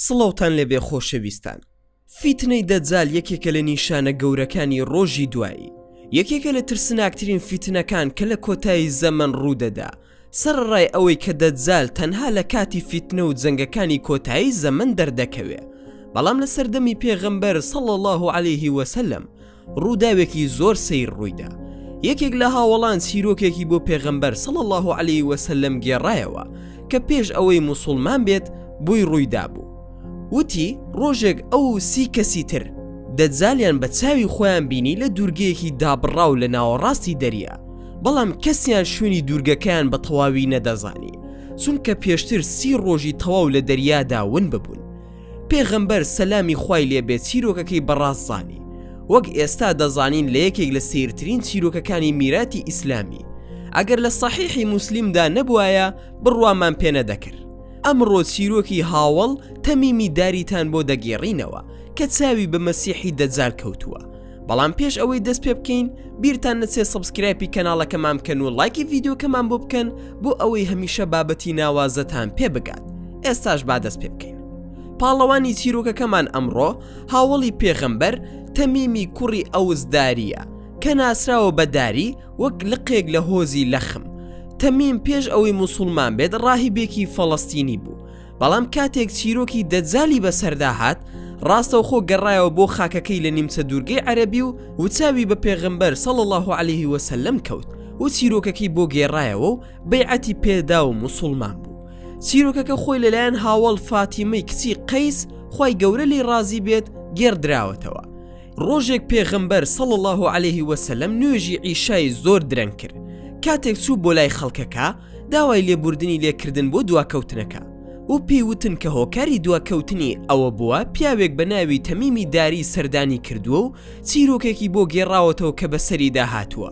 سڵاوتان لێبێ خۆشەویستان فیتنەی دەجال یەکێکە لە نیشانە گەورەکانی ڕۆژی دوایی یەکێکە لە ترسناکترین فیتنەکان کە لە کۆتایی زەمن ڕوودەدا سەرڕای ئەوەی کە دەجال تەنها لە کاتی فیتنە و جەنگەکانی کۆتایی زەمن دەردەکەوێ بەڵام لە سەردەمی پێغەمبەر سەڵ الله عليه وسلم ڕووداوێکی زۆر سەیر ڕوویدا یەکێک لە هاوەڵان چیرۆکێکی بۆ پێغەمبەر سەڵ الله عليه وسلم گێڕایەوە کە پێش ئەوەی مسلمان بێت بۆی ڕوویدا بوو وتی ڕۆژێک ئەو سی کەسی تر دەجالیان بە چاوی خۆیان بینی لە دوورگەیەکی دابڕاو لە ناوەڕاستی دەریا بەڵام کەسیان شوێنی دوورگەکەیان بە تەواوی نەدەزانی چونکە پێشتر سی ڕۆژی تەواو لە دەریادا ون ببوون پێغەمبەر سەلامی خوای لێ بێت چیرۆکەکەی بەڕاست زانی وەک ئێستا دەزانین لە یەکێک لە سیرترین چیرۆکەکانی میراتی ئیسلامی ئەگەر لە سەحیحی موسلیمدا نەبوایە بڕوامان پێ نەدەکرد ئەمڕۆ چیرۆکی هاوەڵ تەمیمی داریتان بۆ دەگێڕینەوە کە چاوی بە مەسیحی دەجال کەوتووە بەڵام پێش ئەوەی دەست پێ بکەین بیرتان نەچێت سبسکرایپی کەناڵەکەمان بکەن و لایکی ڤیددیوکەمان بۆ بکەن بۆ ئەوەی هەمیشە بابەتی ناوازەتان پێ بگات ئێستاش با دەست پێ بکەین پاڵەوانی چیرۆکەکەمان ئەمڕۆ هاوڵی پێغەمبەر تەمیمی کوڕی ئەوزداریە کە ناسراوە بەداری وەک لقێک لە هۆزی لەخم تەمیم پێش ئەوەی مسلمان بێت ڕاهیبێکی فەڵستینی بوو بەڵام کاتێک چیرۆکی دەجالی بەسەردا هات، ڕاستەوخۆ گەڕایەوە بۆ خاکەکەی لە نیمچە دوورگەی عەرەبی و و چاوی بە پێغەمبەر صلی اللە علیه و سلم کەوت و چیرۆکەکەی بۆ گێڕایەوە و بەیعەتی پێدا و موسوڵمان بوو. چیرۆکەکە خۆی لەلایەن هاوەڵ فاتیمەی کچی قەیس خوای گەورە لێی ڕازی بێت گێڕدراوەتەوە، ڕۆژێک پێغەمبەر صلی اللە علیه و سلم نوێژی عیشای زۆر درەنگ کرد، کاتێک چوو بۆ لای خەڵکەکە، داوای لێبوردنی لێکردن بۆ دواکەوتنەکە و پێی وتن کە هۆکاری دواکەوتنی ئەوە بووە پیاوێک بە ناوی تەمیمی داری سەردانی کردووە و چیرۆکێکی بۆ گێڕاوەتەوە کە بەسەریدا هاتووە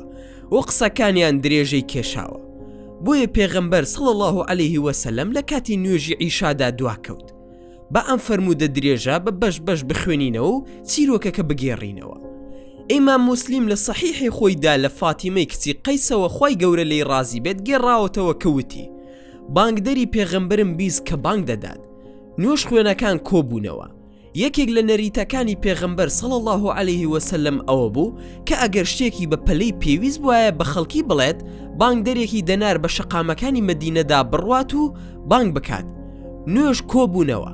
و قسەکانیان درێژەی کێشاوە بۆیە پێغەمبەر صلی اللە علیه وسلم لە کاتی نوێژی عیشادا دواکەوت با ئەم فەرموودە درێژە بە بەش بەش بخوێنینەوە و چیرۆکەکە بگێڕینەوە ئیمام موسلیم لە صحیحی خۆیدا لە فاتیمەی کچی قەیسەوە خی گەورە لی ڕازی بێت گێڕاوەتەوە کەوتی بانگدەری پێغەمبرم بیست کە بانگ دەدات نوێش خوێنەکان کۆبوونەوە یەکێک لە نەریتەکانی پێغەمبەر سەڵ الله عليه وسلم ئەوە بوو کە ئەگەر شتێکی بە پەلەی پێویست وایە بە خەڵکی بڵێت بانگدەرێکی دەنار بە شەقامەکانی مدینەدا بڕوات و بانگ بکات نوێژ کۆبوونەوە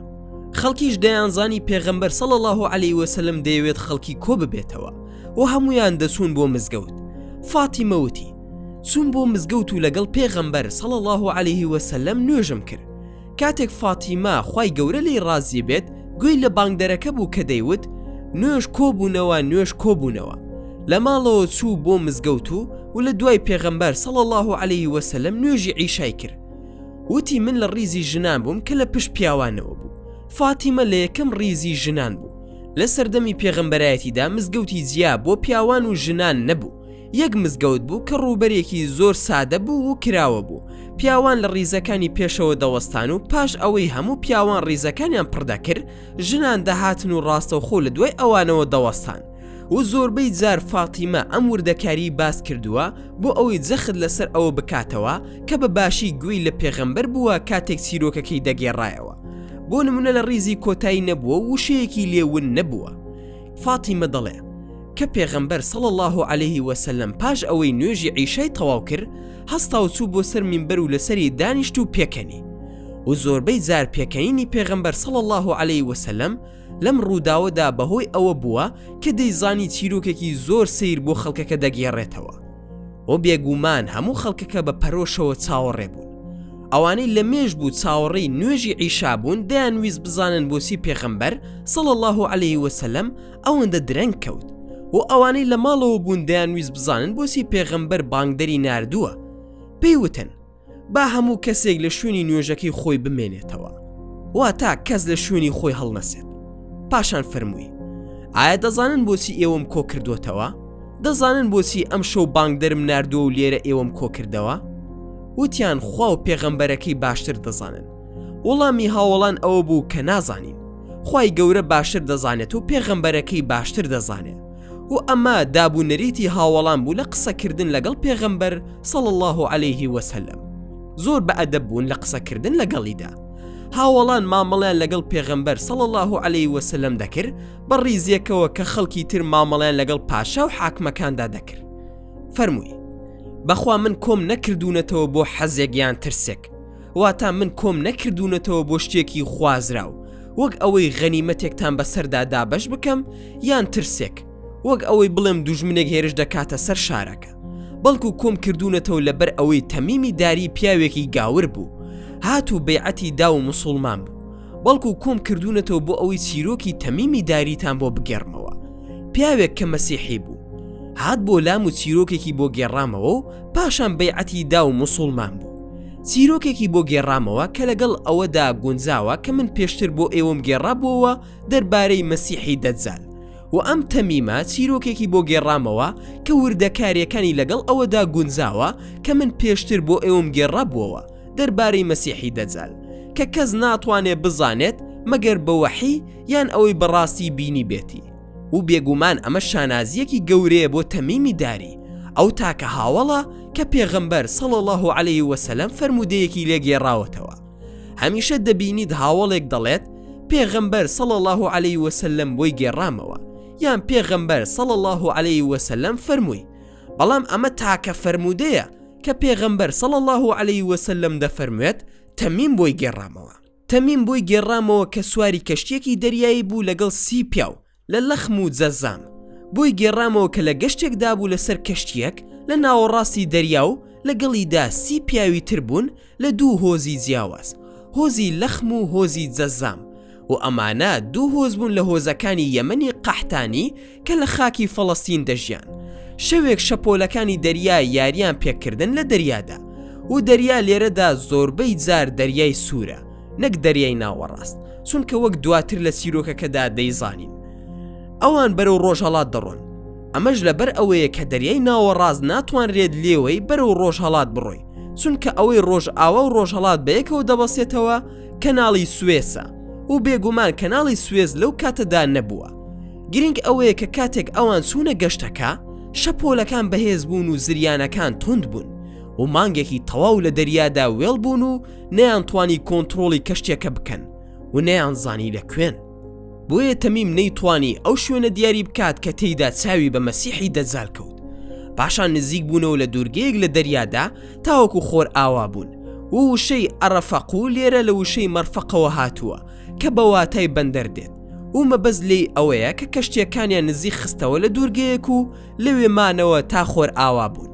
خەڵکیش دەیانزانی پێغەمبەر سەڵ الله عليه وسلم دەیەوێت خەڵکی کۆ ببێتەوە و هەمویان دەچوون بۆ مزگەوت فاتی مەوتی چوون بۆ مزگەوت و لەگەڵ پێغەمبەر سەڵ الله عليه وسلم نوێژم کرد کاتێک فاتیما خی گەورە لی ڕازی بێت گوێی لە بانگدەرەکە بوو کە دەیوت نوێژ کۆبوونەوە نوێژ کۆبوونەوە لە ماڵەوە چوو بۆ مزگەوت و و لە دوای پێغەمبەر سەڵ الله عليه وسلم نوێژی عیشای کرد وتی من لە ڕیزی ژنان بووم کە لە پشت پیاوانەوە بوو فاتیمە لە یەکەم ڕیزی ژنان بوو لە سەردەمی پێغەمبەرایەتیدا مزگەوتی جیا بۆ پیاوان و ژنان نەبوو یەک مزگەوت بوو کە ڕووبەرێکی زۆر سادە بوو و کراوە بوو پیاوان لە ڕیزەکانی پێشەوە دەوەستان و پاش ئەوەی هەموو پیاوان ڕیزەکانیان پڕدەکرد ژنان دەهاتن و ڕاستەوخۆ لە دوای ئەوانەوە دەوەستان و زۆربەی جار فاتیمە ئەم وردەکاریی باس کردووە بۆ ئەوەی جەخت لەسەر ئەوە بکاتەوە کە بە باشی گوێی لە پێغەمبەر بووە کاتێک چیرۆکەکەی دەگێڕایەوە بۆ نمونە لە ڕیزی کۆتایی نەبووە و وشەیەکی لێ ون نەبووە فاتیمە دەڵێ کە پێغەمبەر صلى الله عليه وسلم پاش ئەوەی نوێژی عیشای تەواو کرد هەستا و چوو بۆ سەر مینبەر و لەسەری دانیشت و پێکەنی و زۆربەی جار پێکەنینی پێغەمبەر صلى الله عليه وسلم لەم ڕووداوەدا بەهۆی ئەوە بووە کە دەیزانی چیرۆکێکی زۆر سیر بۆ خەڵکەکە دەگێڕێتەوە و بێگومان هەموو خەڵکەکە بە پەرۆشەوە چاوەڕێ بوون ئەوانەی لە مێژ بوو چاوەڕێی نوێژی عیشابوون دەیان ویست بزانن بۆچی پێخەمبەر سەڵ الله عليه وسلم ئەوەندە درەنگ کەوت و ئەوانەی لە ماڵەوە بوون دەیان ویست بزانن بۆچی پێغەمبەر بانگدەری نردووە پێی وتن با هەموو کەسێک لە شوێنی نوێژەکەی خۆی بمێنێتەوە وا تا کەس لە شوێنی خۆی هەڵنەسێت پاشان فەرمووی ئایا دەزانن بۆچی ئێوەم کۆ کردوتەوە دەزانن بۆچی ئەم شەو بانگدەرم نردووە و لێرە ئێوەم کۆ کردەوە وتیان خوا و پێغەمبەرەکەی باشتر دەزانن وەڵامی هاوڵان ئەوە بوو کە نازانین خی گەورە باشتر دەزانێت و پێغەمبەرەکەی باشتر دەزانێت و ئەمە داب و نەریتی هاوەڵان بوو لە قسەکردن لەگەڵ پێغەمبەر صلی اللە علیه و سلم زۆر بە ئەدەب بوون لە قسەکردن لەگەڵیدا هاوەڵان مامەڵیان لەگەڵ پێغەمبەر صلی اللە علیه و سلم دەکرد بە ڕیزێکەوە کە خەڵکی تر مامەڵیان لەگەڵ پاشا و حاکمەکاندا دەکرد فەرمووی بەخوا من کۆم نەکردوونەتەوە بۆ حەزێک یان ترسێک واتا من کۆم نەکردوونەتەوە بۆ شتێکی خوازراو وەک ئەوەی غەنیمەتێکتان بەسەردا دابش بکەم یان ترسێک وەک ئەوەی بڵێم دوژمنێک هێرش دەکاتە سەر شارەکە بەڵکو کۆم کردوونەتەوە لەبەر ئەوەی تەمیمی داری پیاوێکی گاور بوو هات و بەیعەتی دا و مسلمان بوو بەڵکو کۆم کردوونەتەوە بۆ ئەوەی چیرۆکی تەمیمی داریتان بۆ بگێڕمەوە پیاوێک کە مەسیحی بوو هات بۆ لام و چیرۆکێکی بۆ گێڕامەوە و پاشان بەیعەتی دا و مسلمان بوو چیرۆکێکی بۆ گێڕامەوە کە لەگەڵ ئەوەدا گونجاوە کە من پێشتر بۆ ئێوەم گێڕابووەوە دەربارەی مەسیحی دەجال و ئەم تەمیمە چیرۆکێکی بۆ گێڕامەوە کە وردەکاریەکانی لەگەڵ ئەوەدا گونجاوە کە من پێشتر بۆ ئێوەم گێڕابووەوە دەربارەی مەسیحی دەجال کە کەس ناتوانێت بزانێت مەگەر بەوەحی یان ئەوەی بەڕاستی بینی بێتی و بێگومان ئەمە شانازییەکی گەورەیە بۆ تەمیمی داری ئەو تاکە هاوەڵە کە پێغەمبەر سەڵ الله و عليه وسلم فەرمودەیەکی لێگێڕاوەتەوە هەمیشە دەبینیت هاوڵێک دەڵێت پێغەمبەر سەڵ الله و عليه وسلم بۆی گێڕامەوە یان پێغەمبەر سەڵ الله و عليه وسلم فەرمووی بەڵام ئەمە تاکە فەرمودەیە کە پێغەمبەر سەڵ الله و عليه وسلم دەفەرموێت تەمیم بۆی گێڕامەوە تەمیم بۆی گێڕامەوە کە سواری کەشتیەکی دەریایی بوو لەگەڵ سی پیاو لە لەخم و جەزام بۆی گێڕامەوە کە لە گەشتێک دابوو لەسەر کەشتیەک لە ناوەڕاستی دەریا و لەگەڵیدا سی پیاوی تر بوون لە دوو هۆزی جیاواز هۆزی لەخم و هۆزی جەزام و ئەمانە دوو هۆز بوون لە هۆزەکانی یەمەنی قەحتانی کە لە خاکی فەڵەستین دەژیان شەوێک شەپۆلەکانی دەریا یاریان پێکردن لە دەریادا و دەریا لێرەدا زۆربەی جار دەریای سوورە نەک دەریای ناوەڕاست چونکە وەک دواتر لە چیرۆکەکەدا دەیزانین ئەوان بەرەو ڕۆژهڵات دەڕۆن ئەمەش لەبەر ئەوەیە کە دەریای ناوەڕاست ناتوانرێت لێوەی بەرەو ڕۆژهڵات بڕۆی چونکە ئەوەی ڕۆژ ئاوا و ڕۆژهڵات بەیەکەوە دەبەسێتەوە کەناڵی سوێسە و بێگومان کەناڵی سوێز لەو کاتەدا نەبووە گرنگ ئەوەیە کە کاتێک ئەوان چوونە گەشتەکە شەپۆلەکان بەهێز بوون و زریانەکان تند بوون و مانگێکی تەواو لە دەریادا وێڵ بوون و نەیان توانی کۆنتترۆڵی کەشتێکە بکەن و نەیان زانی لە کوێن بۆیە تەمیم نەیتوانی ئەو شوێنە دیاری بکات کە تێیدا چاوی بە مەسیحی دەجار کەوت پاشان نزیک بوونەوە لە دوورگەیەک لە دەریادا تاوەکو خۆر ئاوا بوون و وشەی ئەڕەفەق و لێرە لە وشەی مەرفەقەوە هاتووە کە بە واتای بەندەر دێت و مەبەز لێی ئەوەیە کە کەشتیەکانیان نزیک خستەوە لە دوورگەیەک و لەوێ مانەوە تا خۆر ئاوا بوون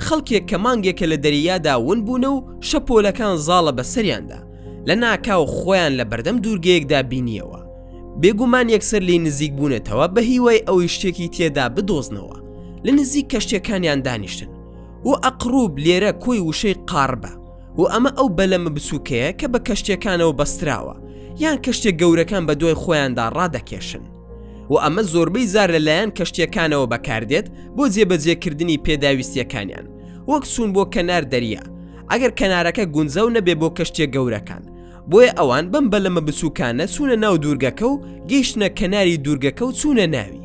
خەڵکێک کە مانگێکە لە دەریادا ون بوونە و شەپۆلەکان زاڵە بە سەریاندا لە ناکاو خۆیان لە بەردەم دوورگەیەکدا بینیەوە بێگومان یەکسەر لی نزیک بوونەتەوە بە هیوای ئەوەی شتێکی تێدا بدۆزنەوە لە نزیک کەشتەکانیان دانیشتن و ئەقروب لێرە کۆی وشەی قاڕبە و ئەمە ئەو بەلەمە بچووکەیە کە بە کەشتیەکانەوە بەستراوە یان کەشتێک گەورەکان بە دوای خۆیاندا ڕادەکێشن و ئەمە زۆربەی زار لەلایەن کەشتیەکانەوە بەکاردێت بۆ جێبەجێکردنی پێداویستیەکانیان وەک سوون بۆ کەنار دەریا ئەگەر کەنارەکە گونجاو نەبێ بۆ کەشتە گەورەکان بۆیە ئەوان بەم بە لەمە بچووکانە چوونە ناو دوورگەکە و گەیشتە کەناری دوورگەکە و چوونە ناوی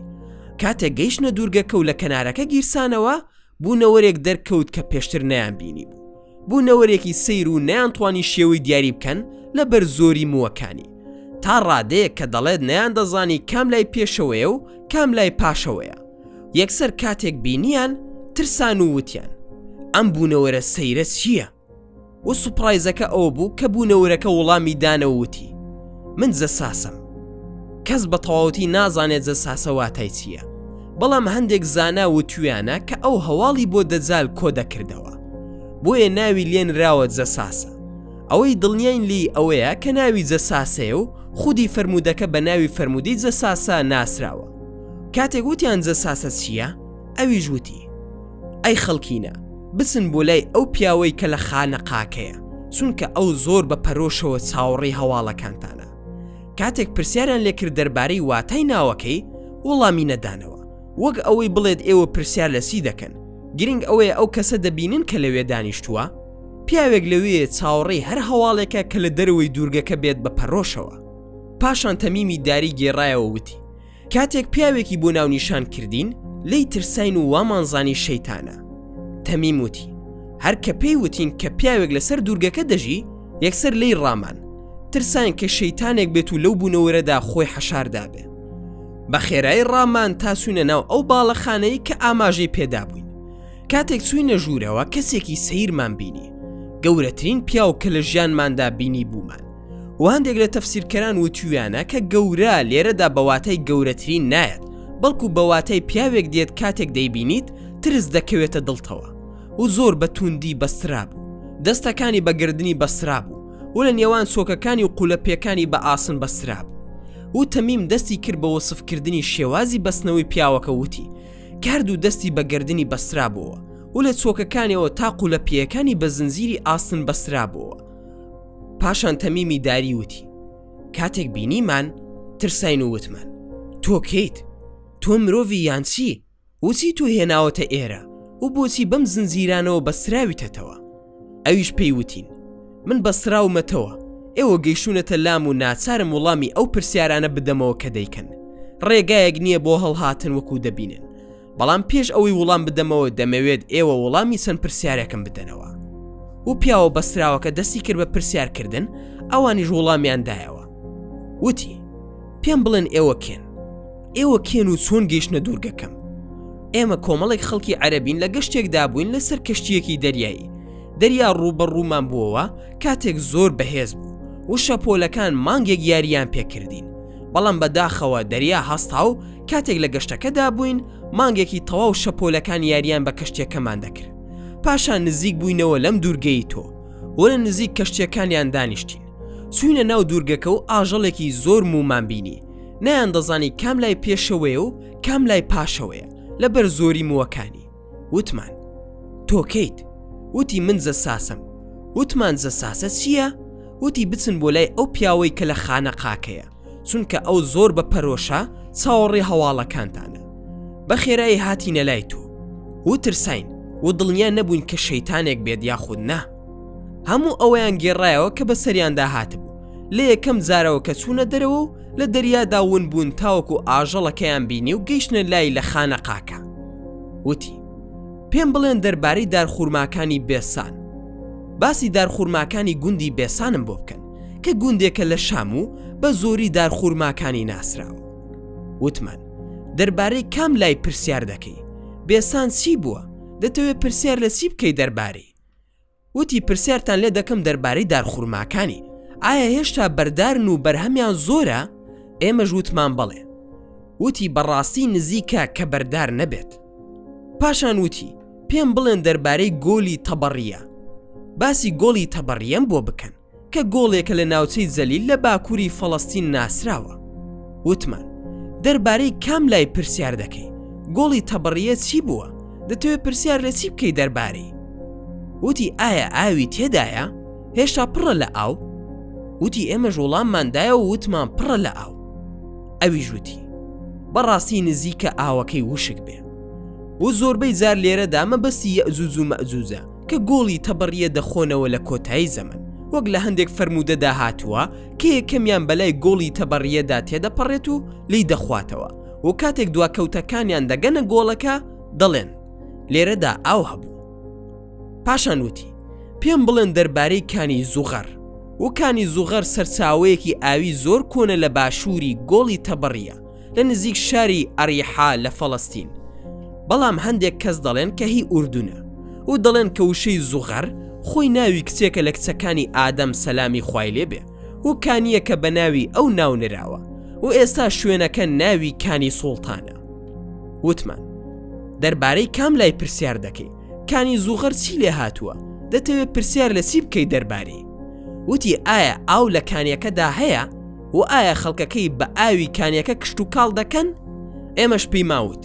کاتێک گەیشتە دوورگەکە و لە کەنارەکە گیرسانەوە بوونەوەرێک دەرکەوت کە پێشتر نەیان بینی بوو بوونەوەرێکی سیر و نیان توانی شێوەی دیاری بکەن لە بەر زۆری مووەکانی تا ڕادەیەک کە دەڵێت نیان دەزانی کام لای پێشەوەیە و کام لای پاشەوەیە یەکسەر کاتێک بینیان ترسان و وتیان ئەم بوونەوەرە سەیرە چییە؟ و سوپڕایزەکە ئەوە بوو کە بوونەورەکە وڵامی دانەوە وتی من زەساسم کەس بە تەواوەتی نازانێت زەساسە واتای چییە بەڵام هەندێک زانا و تویانە کە ئەو هەواڵی بۆ دەجال کۆ دەکردەوە بۆیە ناوی لێنراوە جەساسە ئەوەی دڵنیین لی ئەوەیە کە ناوی جەساسەیە و خودی فرەرمودەکە بە ناوی فرەرمودی جەساسە ناسراوە کاتێک وتیان جەساسە چییە ئەویش وتی ئەی خەڵکینە بچن بۆ لای ئەو پیاوەی کە لە خانەقاکەیە چونکە ئەو زۆر بە پەرۆشەوە چاوەڕێی هەواڵەکانتانە کاتێک پرسیاریان لێکرد دەربارەی واتای ناوەکەی وەڵامی نەدانەوە وەک ئەوەی بڵێت ئێوە پرسیار لە سی دەکەن گرنگ ئەوەیە ئەو کەسە دەبینن کە لەوێ دانیشتووە پیاوێک لەوێ چاوەڕێی هەر هەواڵێکە کە لە دەرەوەی دوورگەکە بێت بە پەرۆشەوە پاشان تەمیمی داری گێڕایەوە وتی کاتێک پیاوێکی بۆ ناونیشان کردین لی ترساین و وامانزانی شەیتانە تەمیم وتی هەر کە پێی وتین کە پیاوێک لەسەر دوورگەکە دەژی یەکسەر لی ڕامان ترساین کە شەیتانێک بێت و لەو بوونەوەرەدا خۆی حەشاردابێ بە خێرای ڕامان تاسوونە ناو ئەو باڵەخانەی کە ئاماژەی پێدابووین کاتێک چوینە ژوورەوە کەسێکی سیرمان بینی گەورەترین پیاو کە لە ژیانماندا بینی بوومان و هەندێک لە تەفسیرکەران وتویانە کە گەورە لێرەدا بەواتای گەورەترین نایەت بەڵکو بەواتای پیاوێک دێت کاتێک دەیبینیت ترس دەکەوێتە دڵتەوە و زۆر بە توندی بەستراب دەستەکانی بە گردنی بەسراب و و لە نێوان سۆکەکانی و قولە پێکانی بە ئاسن بەسراب و تەمیم دەستی کرد بە وەسفکردنی شێوازی بەستنەوەی پیاوەکە وتی کارد و دەستی بە گردنی بەسرابەوە و لە چۆکەکانەوە تا قولە پیەکانی بە زنجیری ئاسن بەسرابەوە پاشان تەمیمی داری وتی کاتێک بینیمان ترساین و وتمان تۆ کەیت تۆ مرۆڤی یانچی وچی تو هێناوەتە ئێرە و بۆچی بەم زنجیرانەوە بەستراویتەتەوە ئەویش پێی وتین من بەستراومەتەوە ئێوە گەیشتونەتە لام و ناچارم وڵامی ئەو پرسیارانە بدەمەوە کە دەیکەن ڕێگایەک نییە بۆ هەڵهاتن وەکو دەبینن بەڵام پێش ئەوەی وڵام بدەمەوە دەمەوێت ئێوە وڵامی چەند پرسیارێکم بدەنەوە و پیاوە بەسراوەکە دەستی کرد بە پرسیارکردن ئەوانیش وڵامیان دایەوە وتی پێم بڵێن ئێوە کێن ئێوە کێن و چۆن گەیشتە دوورگەکەم ئێمە کۆمەڵێک خەڵکی عەربین لە گەشتێکدا بووین لەسەر کەشتیەکی دەریایی دەریا ڕووبە ڕوومان بووەوە کاتێک زۆر بەهێز بوو و شەپۆلەکان مانگێک یاریان پێکردین بەڵام بە داخەوە دەریا هەستا و کاتێک لە گەشتەکەدا بووین مانگێکی تەواو شەپۆلەکان یاریان بە کەشتیەکەمان دەکرد پاشان نزیک بووینەوە لەم دوورگەی تۆ و لە نزیک کەشتیەکانیان دانیشتین چوینە ناو دوورگەکە و ئاژەڵێکی زۆر مومان بینی نەیان دەزانی کام لای پێشەوەیە و کام لای پاشەوەیە لەبەر زۆری مووەکانی وتمان تۆ کەیت وتی من زەساسم وتمان زەساسە چییە؟ وتی بچن بۆ لای ئەو پیاوەی کە لە خانە قاکەیە چونکە ئەو زۆر بە پەرۆشە چاوەڕێ هەواڵەکانتانە بە خێرایی هاتینە لای تۆ و ترساین و دڵنیا نەبووین کە شەیتانێک بێت یاخود نا هەموو ئەوەیان گێڕایەوە کە بە سەریاندا هاتبوو لە یەکەم جارەوە کە چوونە دەرەوە و لە دەریادا ون بوون تاوەکو ئاژەڵەکەیان بینی و گەیشتە لای لە خانە قاکە وتی پێم بڵێن دەربارەی دارخورماکانی بێسان باسی دارخورماکانی گوندی بێسانم بۆ بکەن کە گوندێکە لە شام و بە زۆری دارخورماکانی ناسراوە وتمان دەربارەی کام لای پرسیار دەکەی بێسان چی بووە دەتەوێت پرسیار لە چی بکەی دەربارەی وتی پرسیارتان لێ دەکەم دەربارەی دارخورماکانی ئایا هێشتا بەردارن و بەرهەمیان زۆرە ئێمە ژووتمان بەڵێ وتی بەڕاستی نزیکە کە بەردار نەبێت پاشان وتی پێم بڵێن دەربارەی گۆلی تەبەڕیە باسی گۆڵی تەبەڕیەم بۆ بکەن کە گۆڵێکە لە ناوچەی جەلیل لە باکووری فەڵەستین ناسراوە وتمان دەربارەی کام لای پرسیار دەکەی گۆڵی تەبڕیە چی بووە دەتەوێت پرسیار لە چی بکەی دەربارەی وتی ئایا ئاوی تێدایە هێشتا پڕە لە ئاو وتی ئێمە ژوڵامماندایە و وتمان پڕە لە ئاو ئەوی ژووتی بەڕاستی نزیکە ئاوەکەی وشک بێ و زۆربەی جار لێرەدا مەبەستی یەزوز و مەزوزە کە گۆڵی تەبڕیە دەخۆنەوە لە کۆتایی زەمەن، وەک لە هەندێک فەرموودەدا هاتووە کە یەکەمیان بەلای گۆڵی تەبڕیەدا تێدەپەڕێت و لێی دەخواتەوە و کاتێک دواکەوتەکانیان دەگەنە گۆڵەکە دەڵێن لێرەدا ئاو هەبوو پاشان وتی پێم بڵێن دەربارەی کانی زوغەر وکانی زوغەر سەرچاوەیەکی ئاوی زۆر کۆنە لە باشووری گۆڵی تەبڕیە لە نزیک شاری ئەریحا لە فەڵەستین بەڵام هەندێک کەس دەڵێن کە هی ئوردونە و دەڵێن کە وشەی زوغەر خۆی ناوی کچێکە لە کچەکانی ئادەم سەلامی خوای لێبێ و کانیە کە بە ناوی ئەو ناونراوە و ئێستا شوێنەکە ناوی کانی سوڵتانە وتمان دەربارەی کام لای پرسیار دەکەی کانی زوغەر چی لێ هاتووە دەتەوێت پرسیار لە چی بکەی دەربارەی وتی ئایا ئاو لە کانیەکەدا هەیە و ئایا خەڵکەکەی بە ئاوی کانیەکە کشتوکاڵ دەکەن؟ ئێمەش پێی ماوت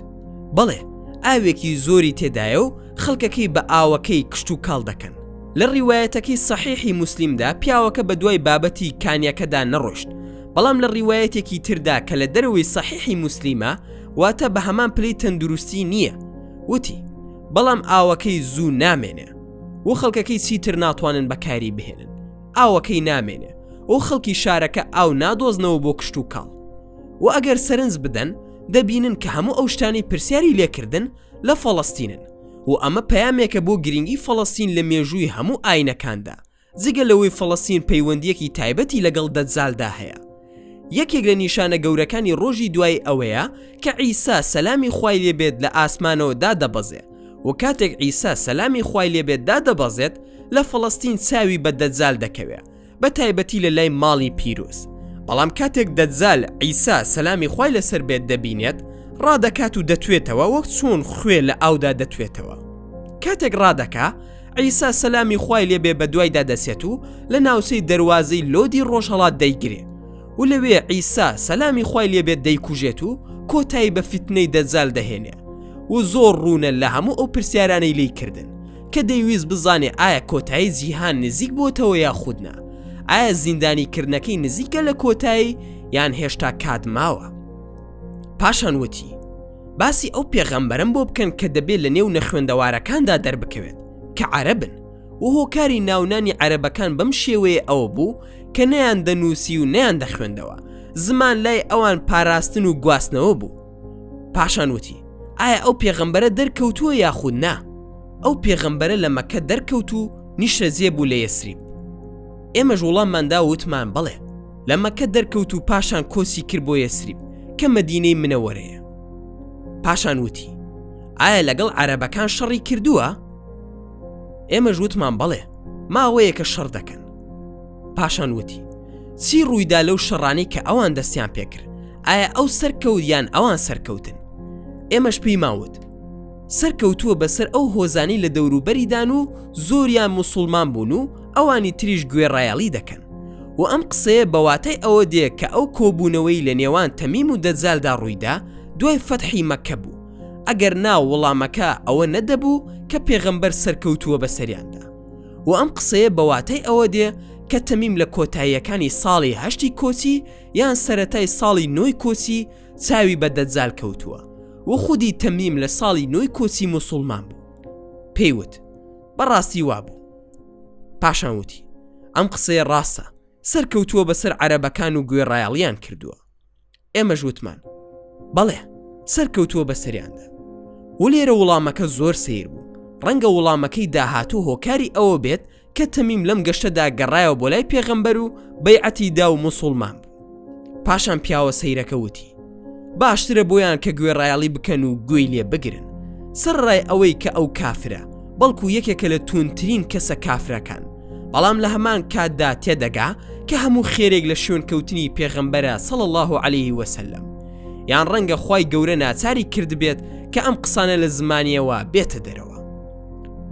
بەڵێ ئاوێکی زۆری تێدایە و خەڵکەکەی بە ئاوەکەی کشتوکاڵ دەکەن لە ڕیوایەتەکەی سەحیحی موسلیمدا پیاوەکە بە دوای بابەتی کانیەکەدا نەڕۆشت بەڵام لە ڕیوایەتێکی تردا کە لە دەرەوەی سەحیحی موسلیمە واتە بە هەمان پلی تەندروستی نییە وتی بەڵام ئاوەکەی زوو نامێنێ و خەڵکەکەی چیتر ناتوانن بەکاری بهێنن ئاوەکەی نامێنێ و خەڵکی شارەکە ئاو نادۆزنەوە بۆ کشت و کاڵ و ئەگەر سەرنج بدەن دەبینن کە هەموو ئەو شتانی پرسیاری لێکردن لە فەڵەستینن و ئەمە پەیامێکە بۆ گرنگی فەڵەستین لە مێژووی هەموو ئاینەکاندا جگە لەوەی فەڵەستین پەیوەندیەکی تایبەتی لەگەڵ دەجالدا هەیە یەکێک لە نیشانە گەورەکانی ڕۆژی دوای ئەوەیە کە عیسا سەلامی خوای لێبێت لە ئاسمانەوە دادەبەزێ و کاتێک عیسا سەلامی خوای لێبێت دادەبەزێت لە فەڵەستین چاوی بە دەجال دەکەوێ بە تایبەتی لە لای ماڵی پیرۆز بەڵام کاتێک دەجال عیسا سەلامی خوای لەسەر بێت دەبینێت ڕادەکات و دەتوێتەوە وەک چۆن خوێ لە ئاودا دەتوێتەوە کاتێک ڕادەکە عیسا سەلامی خوای لێبێ بەدوایدا دەچێت و لە ناوچەی دەروازەی لۆدی ڕۆژهەڵات دەیگرێ و لەوێ عیسا سەلامی خوای لێبێت دەیکوژێت و کۆتایی بە فیتنەی دەجال دەهێنێ و زۆر ڕوونە لە هەموو ئەو پرسیارانەی لی کردن کە دەیویست بزانێ ئایا کۆتایی جیهان نزیک بۆتەوە یا خودنا ئایا زیندانی کردنەکەی نزیکە لە کۆتایی یان هێشتا کات ماوە پاشان وتی باسی ئەو پێغەمبەرم بۆ بکەن کە دەبێت لە نێو نەخوێندەوارەکاندا دەربکەوێت کە عەرەبن و هۆکاری ناونانی عەرەبەکان بەم شێوەیە ئەوە بوو کە نەیان دەنووسی و نیان دەخوێندەوە زمان لای ئەوان پاراستن و گواستنەوە بوو پاشان وتی ئایا ئەو پێغەمبەرە دەرکەوتووە یاخود نا ئەو پێغەمبەرە لە مەکە دەرکەوت و نیشتە جێ بوو لە یەسریب ئێمەش وڵامماندا وتمان بڵێ لە مەکە دەرکەوت و پاشان کۆچی کرد بۆ یەسریب کە مەدینەی منەوەرەیە پاشان وتی ئایا لەگەڵ عەرەبەکان شەڕی کردووە ئێمە ژوتمان بەڵێ ماوەیە کە شەڕ دەکەن پاشان وتی چی ڕوویدا لەو شەڕانی کە ئەوان دەستیان پێکرد ئایا ئەو سەرکەوت یان ئەوان سەرکەوتن ئێمەش پێی ماوت سەرکەوتووە بەسەر ئەو هۆزانی لە دەوروبەریدان و زۆریان مسلمان بوون و ئەوانی تریش گوێڕایەڵی دەکەن و ئەم قسەیە بە واتای ئەوە دێ کە ئەو کۆبوونەوەی لە نێوان تەمیم و دەجالدا ڕوویدا دوای فەتحی مەککە بوو ئەگەر نا وڵامەکە ئەوە نەدەبوو کە پێغەمبەر سەرکەوتووە بە سەریاندا و ئەم قسەیە بە واتای ئەوە دێ کە تەمیم لە کۆتاییەکانی ساڵی هەشتی کۆچی یان سەتای ساڵی نۆی کۆچی چاوی بە دەجال کەوتووە و خودی تەمیم لە ساڵی نۆی کۆچی موسڵمان بوو پێیوت بەڕاستی وابوو پاشان وتی ئەم قسەیە ڕاستە سەرکەوتووە بەسەر عەرەبەکان و گوێڕایەڵیان کردووە ئێمەش وتمان بەڵێ سەرکەوتووە بەسەریاندا و لێرە وڵامەکە زۆر سیر بوو ڕەنگە وڵامەکەی داهاتوو هۆکاری ئەوە بێت کە تەمیم لەم گەشتەدا گەڕایەوە بۆ لای پێغەمبەر و بەیعەتی دا و مسلمان بوو پاشان پیاوە سەیرەکە وتی باشترە بۆیان کە گوێڕایەڵی بکەن و گوێی لێ بگرن سەر ڕای ئەوەی کە ئەو کافرە بەڵکو یەکێکە لە تونترین کەسە کافرەکان بەڵام لە هەمان کاتدا تێدەگا کە هەموو خێرێک لە شوێن کەوتنی پێغەمبەرە سەڵ الله عليه وسلم یان ڕەنگە خی گەورە ناچاری کردبێت کە ئەم قسانە لە زمانیەوە بێتە دەرەوە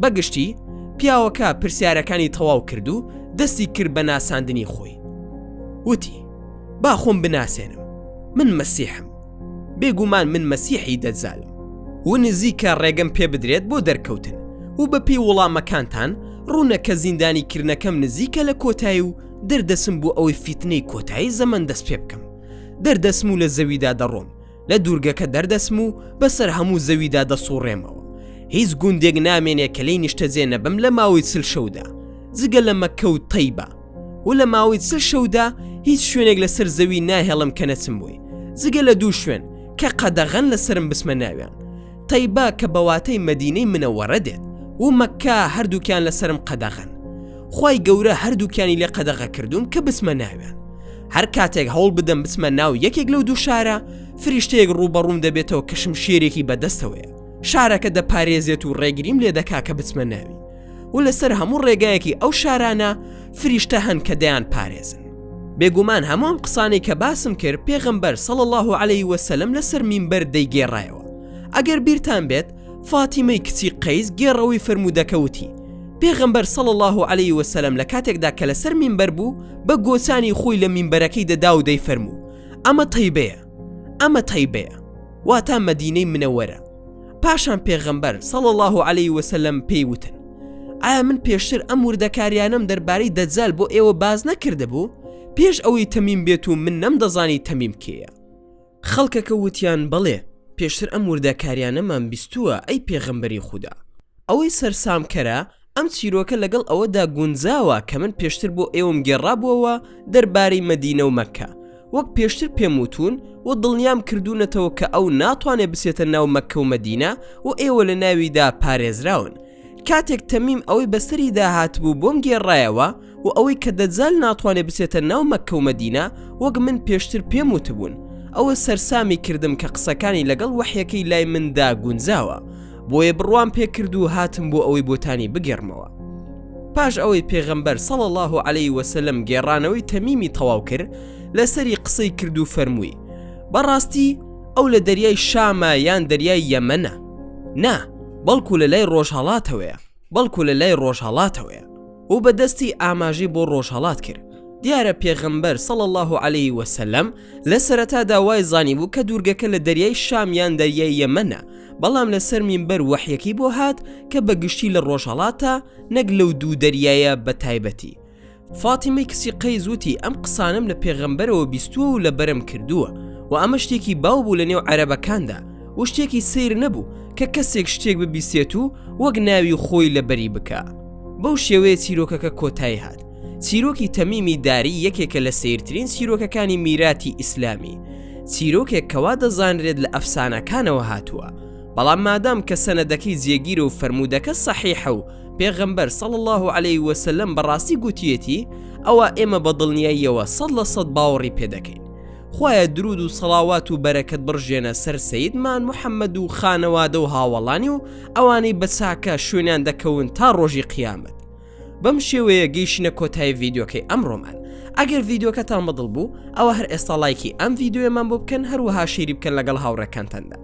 بەگشتی پیاوەکە پرسیارەکانی تەواو کرد و دەستی کرد بە ناساندنی خۆی وتی با خۆم بناسێنم من مەسیحم بێگومان من مەسیحی دەجالم و نزیکە ڕێگەم پێ بدرێت بۆ دەرکەوتن و بەپێی وەڵامەکانتان ڕوونە کە زیندانی کردنەکەم نزیکە لە کۆتایی و دەردەسم بۆ ئەوەی فیتنەی کۆتایی زەمن دەست پێ بکەم دەردەسم و لە زەویدا دەڕۆم لە دوورگەکە دەردەچم و بەسەر هەموو زەویدا دەسوڕێمەوە هیچ گوندێک نامێنێ کە لی نیشتەجێ نەبم لە ماوەی چل شەودا جگە لە مەکە و تەیبە و لە ماوەی چل شەودا هیچ شوێنێک لەسەر زەوی ناهێڵم کە نەچم بووی جگە لە دوو شوێن کە قەدەغەن لەسرم بسمە ناویان تەیبا کە بەواتەی مەدینەی منەوەڕە دێت و مەکە هەردووکیان لەسرم قەدەغەن خی گەورە هەردووکیانی لێ قەدەغە کردوم کە بسمە ناویان هەر کاتێک هەوڵ بدەم بچمە ناو یەکێک لەو دوو شارە فریشتەیەک ڕووبەڕووم دەبێتەوە کەشم شێرێکی بەدەستەوەیە شارەکە دەپارێزێت و ڕێگریم لێ دەکا کە بچمە ناوی و لەسەر هەموو ڕێگایەکی ئەو شارانە فریشتە هەن کە دەیان پارێزن بێگومان هەمووم قسانەی کە باسم کرد پێغمبەر سەڵ الله عليه وسلم لەسەر مینبەر دەیگێڕایەوە ئەگەر بیرتان بێت فاتیمەی کچی قەیس گێڕەوەی فەرموودەکە وتی، پێغەمبەر صلی اللە علیە و سلم لە کاتێکدا کە لەسەر مینبەر بوو بە گۆچانی خۆی لە مینبەرەکەی دەدا و دەیفەرموو، ئەمە تەیبەیە، ئەمە تەیبەیە، واتا مەدینەی منەوەرە، پاشان پێغەمبەر، صلی اللە علیە و سلم، پێی وتن، ئایا من پێشتر ئەم وردەکاریانەم دەربارەی دەجال بۆ ئێوە باس نەکردبوو؟ پێش ئەوەی تەمیم بێت و من نەمدەزانی تەمیم کێیە. خەڵکەکە وتیان، بەڵێ، پێشتر ئەم وردەکاریانەمان بیستووە، ئەی پێغەمبەری خودا. ئەوەی سەرسامکەرە، ئەم چیرۆکە لەگەڵ ئەوەدا گونجاوە کە من پێشتر بۆ ئێوەم گێڕابووەوە دەربارەی مەدینە و مەککە، وەک پێشتر پێم وتوون و دڵنیام کردوونەتەوە کە ئەو ناتوانێت بچێتە ناو مەککە و مەدینە و ئێوە لەناویدا پارێزراون، کاتێک تەمیم ئەوەی بەسەری داهاتبوو بۆم گێڕایەوە و ئەوەی کە دەجال ناتوانێت بچێتە ناو مەککە و مەدینە وەک من پێشتر پێم وتبوون ئەوە سەرسامی کردم کە قسەکانی لەگەڵ وەحیەکەی لای مندا گونجاوە بۆیە بڕوام پێکرد و هاتم بۆ ئەوەی بۆتانی بگێڕمەوە پاش ئەوەی پێغەمبەر سەڵ الله و عليه وسلم گێڕانەوەی تەمیمی تەواو کرد لەسەری قسەی کرد و فەرمووی بەڕاستی ئەو لە دەریای شامە یان دەریای یەمەە نا بەڵکو لە لای ڕۆژهەڵاتەوەیە بەڵکو لە لای ڕۆژهەڵاتەوەیە و بە دەستی ئاماژەی بۆ ڕۆژهەڵات کرد دیارە پێغەمبەر سەڵ الله و عليه وسلم لە سەرەتا داوای زانی بوو کە دوورگەکە لە دەریای شامیان دەریای یەمەە بەڵام لە سەر مینبەر وەحیەکەی بۆ هات کە بە گشتی لە ڕۆژهڵاتە نەک لەو دوو دەریایە بە تایبەتی فاتیمەی کچی قەیس وتی ئەم قسانەم لە پێغەمبەرەوە بیستووە و لە بەرم کردووە و ئەمە شتێکی باو بوو لە نێو عەرەبەکاندا و شتێکی سیر نەبوو کە کەسێک شتێک ببیسێت و وەک ناوی خۆی لە بەری بکا بەو شێوەیە چیرۆکەکە کۆتایی هات چیرۆکی تەمیمی داری یەکێکە لە سیرترین چیرۆکەکانی میراتی ئیسلامی چیرۆکێک کەوا دەزانرێت لە ئەفسانەکانەوە هاتووە بەڵام مادام کە سەنەدەکەی جێگیرە و فەرموودەکە سەحیحە و پێغەمبەر، صلی اللە علیه وسلم، بەڕاستی گووتیەتی، ئەوا ئێمە بە دڵنیاییەوە سەد لە سەد باوەڕی پێ دەکەین. خوایە دروود و صەڵاوات و بەرەکەت بڕژێنە سەر سەیدمان محمد و خانەوادە و هاوەڵانی و ئەوانەی بە چاکە شوێنیان دەکەون تا ڕۆژی قیامەت. بەم شێوەیە گەیشتینە کۆتایی ڤیدیۆکەی ئەمڕۆمان. ئەگەر ڤیدیۆکەتان بەدڵ بوو، ئەوا هەر ئێستا ڵایکی ئەم ڤیدیۆیەمان بۆ بکەن، هەروەها شەیری بکەن لەگەڵ هاوڕێکانتاندا.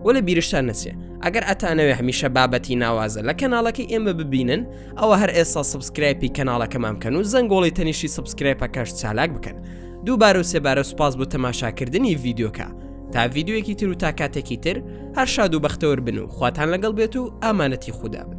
بۆ لە بیرشتان نەچێ ئەگەر ئەتانەوێ هەمیشە بابەتی ناوازە لە کەناڵەکەی ئێمە ببینن ئەوە هەر ئێستا سبسکرایپی کەناڵەکەمان بکەن و زەنگۆڵی تەنیشی سبسکرایپەکەش چالاک بکەن دووبارە و سێبارە سوپاس بۆ تەماشاکردنی ڤیددیوکە تا ڤیددیوەکی تر و تا کاتێکی تر هەر شاد و بەختەوەر بن و خواتان لەگەڵ بێت و ئامانەتی خوددا بن